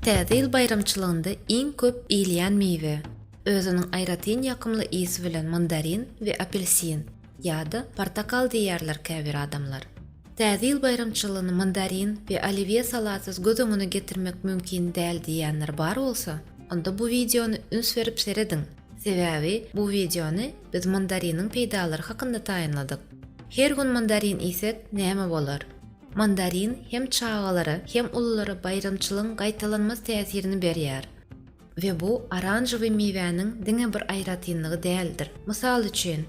Täze ýyl baýramçylygynda iň köp iýilýän miwe, özüniň aýratyn ýakymly ysy bilen mandarin we apelsin, ýa-da portakal diýýärler käbir adamlar. Täze ýyl baýramçylygyny mandarin we oliwýe salatsyz göz öňüne getirmek mümkin däl diýýänler bar bolsa, onda bu wideony üns berip serediň, sebäbi bu wideony biz mandariniň peýdalary hakynda taýynladyk. Her gün mandarin iýsek näme bolar? Mandarin hem çagalara, hem ululara baýramçylygyň gaýtalanmaz täsirini berýär. We bu oranžowy miwäniň diňe bir aýratynlygy däldir. Mysal üçin,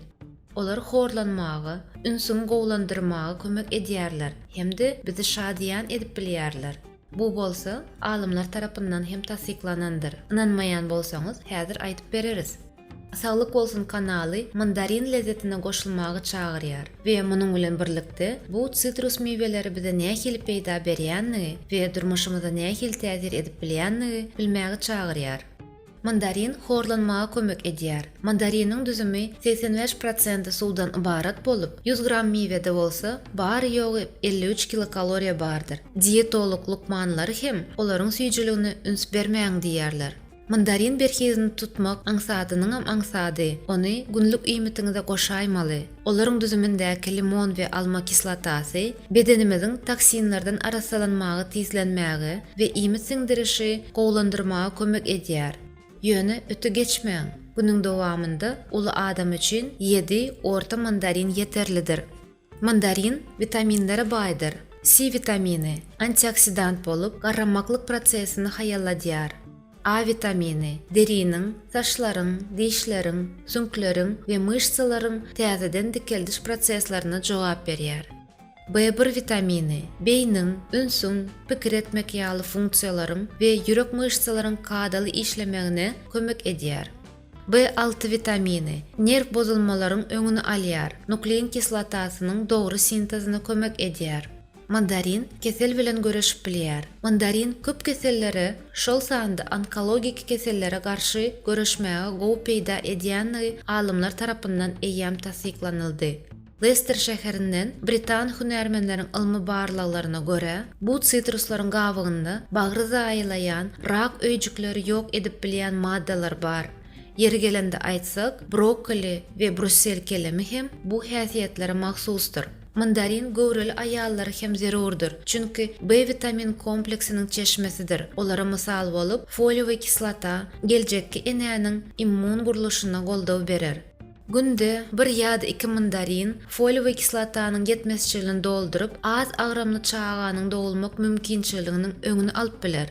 olar horlanmaga, ünsüňi gowulandyrmaga kömek edýärler hem-de bizi şadyýan edip bilýärler. Bu bolsa, alymlar tarapyndan hem tassyklanandyr. Ynanmaýan bolsaňyz, häzir aýdyp bereris. Saglyk bolsun kanaly mandarin lezzetine goşulmagy çagyrýar we munuň bilen birlikde bu sitrus miweleri bize nähili peýda berýändigi we durmuşymyza nähili täsir edip bilýändigi bilmäge çagyrýar. Mandarin horlanmaga kömek edýär. Mandariniň düzümi segsen bäş prosenti suwdan ybarat bolup, ýüz gram miwede bolsa bary-ýogy elli üç kilokaloriýa bardyr. Dietolog lukmanlary hem olaryň süýjüligine üns bermäň diýýärler. Mandarin berhizini tutmak aňsadynyňam aňsady, ony günlük iýmitiňize goşaýmaly. Olaryň düzümindäki limon we alma kislotasy bedenimiziň toksinlerden arassalanmagy tizlenmäge we iýmit siňdirişi gowulandyrmaga kömek edýär. Ýöne öte geçmäň, günüň dowamynda uly adam üçin ýedi orta mandarin ýeterlidir. Mandarin witaminlere baýdyr. C witamini, antioksidant bolup, garramaklyk prosesini haýalladýar. A witamini, deriniň, saçlaryň, dişleriň, süňkleriň we myşsalaryň täzeden dikeldiş proseslerine jogap berýär. B bir witamini, beýniň, ünsüň, pikir etmek ýaly funksiýalaryň we ýürek myşsalaryň kadaly işlemegine kömek edýär. B alty witamini, nerw bozulmalaryň öňüni alýar, nuklein kislotasynyň dogry sintezine kömek edýär. Mandarin kesel bilen göreşip bilýär. Mandarin köp kesellere, şol sanda onkologik kesellere garşy göreşmäge gowy peýda edýändigi alymlar tarapyndan eýýäm tassyklanyldy. Lester şäherinden britan hünärmenleriň ylmy barlaglaryna görä, bu sitruslaryň gabygynda bagry zaýalaýan, rak öýjükleri ýok edip bilýän maddalar bar. Ýeri gelende aýtsak, brokkoli we brussel kelemi hem bu häsiýetlere mahsusdyr. Mandarin göwreli aýallara hem zerurdyr, çünki B witamin kompleksiniň çeşmesidir, olara mysal bolup, foliowy kislota geljekki enäniň immun gurluşyna goldaw berer. Günde bir ýa-da iki mandarin foliowy kislotanyň ýetmezçiligini dolduryp, az agramly çaganyň dogulmak mümkinçiliginiň öňüni alyp biler.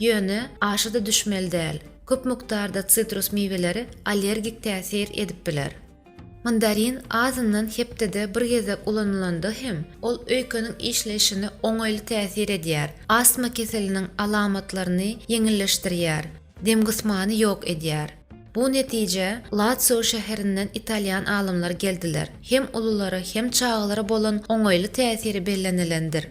Ýöne aşa-da düşmeli däl. Köp mukdarda sitrus miweleri allergik täsir edip biler. Mandarin azyndan hepdede bir gezek ulanylanda hem, ol öýkeniň işleýşine oňaýly täsir edýär, astma keseliniň alamatlaryny ýeňilleşdirýär, demgysmany ýok edýär. Bu netijä Latsio şäherinden italýan alymlar geldiler, hem ululara hem çagalara bolan oňaýly täsiri bellenilendir.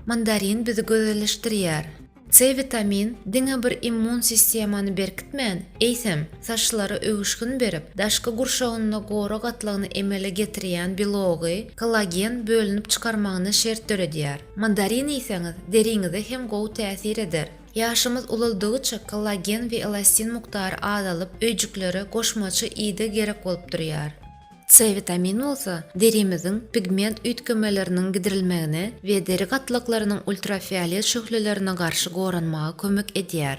Mandarin bizi gözelleşdirýär. C witamin diňe bir immun sistemany berkitmän, eýsem, saçlara öwüşgin berip, daşky gurşawynda gora gatlagyny emele getirýän belogy, kollagen, bölünip çykarmagyna şert döredýär. Mandarin iýseňiz, deriňize hem gowy täsir eder. Ýaşymyz ulaldygyça kollagen we elastin mukdary azalyp, öýjüklere goşmaça ideg gerek bolup durýar. C witamini bolsa derimiziň pigment üýtgemeleriniň gidirilmegine we deri gatlaklarynyň ultrafiolet şöhlelerine garşy goranmaga kömek edýär.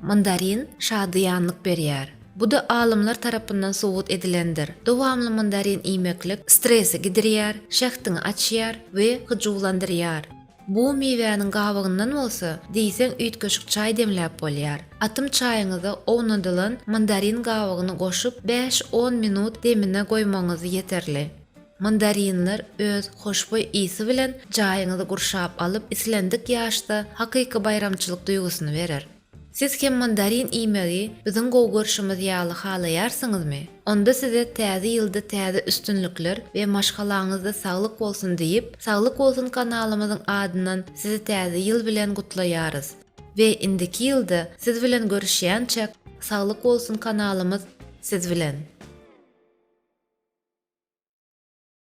Mandarin şadyýanlyk berýär. Bu-da alymlar tarapyndan subut edilendir. Dowamly mandarin iýmeklik stresi gidirýär, şähdiňi açýar we hyjuwlandyrýar. Bu miwäniň gabygyndan bolsa, diýseň üýtgeşik çaý demläp bolýar. Atym çaýyňyza ownadylan mandarin gabygyny goşup, bäş-on minut demine goýmagyňyz ýeterli. Mandarinler öz hoşboý ysy bilen jaýyňyzy gurşap alyp, islendik ýaşda hakyky baýramçylyk duýgusyny berer. Siz hem mandarin iýmegi biziň gowy görşümiz ýaly halaýarsyňyzmy? Onda size Täze ýylda täze üstünlikler we maşgalaňyzda saglyk bolsun diýip, Saglyk bolsun kanalymyzyň adyndan sizi Täze ýyl bilen gutlaýarys. We indiki ýylda siz bilen görüşýänçäk Saglyk bolsun kanalymyz siz bilen.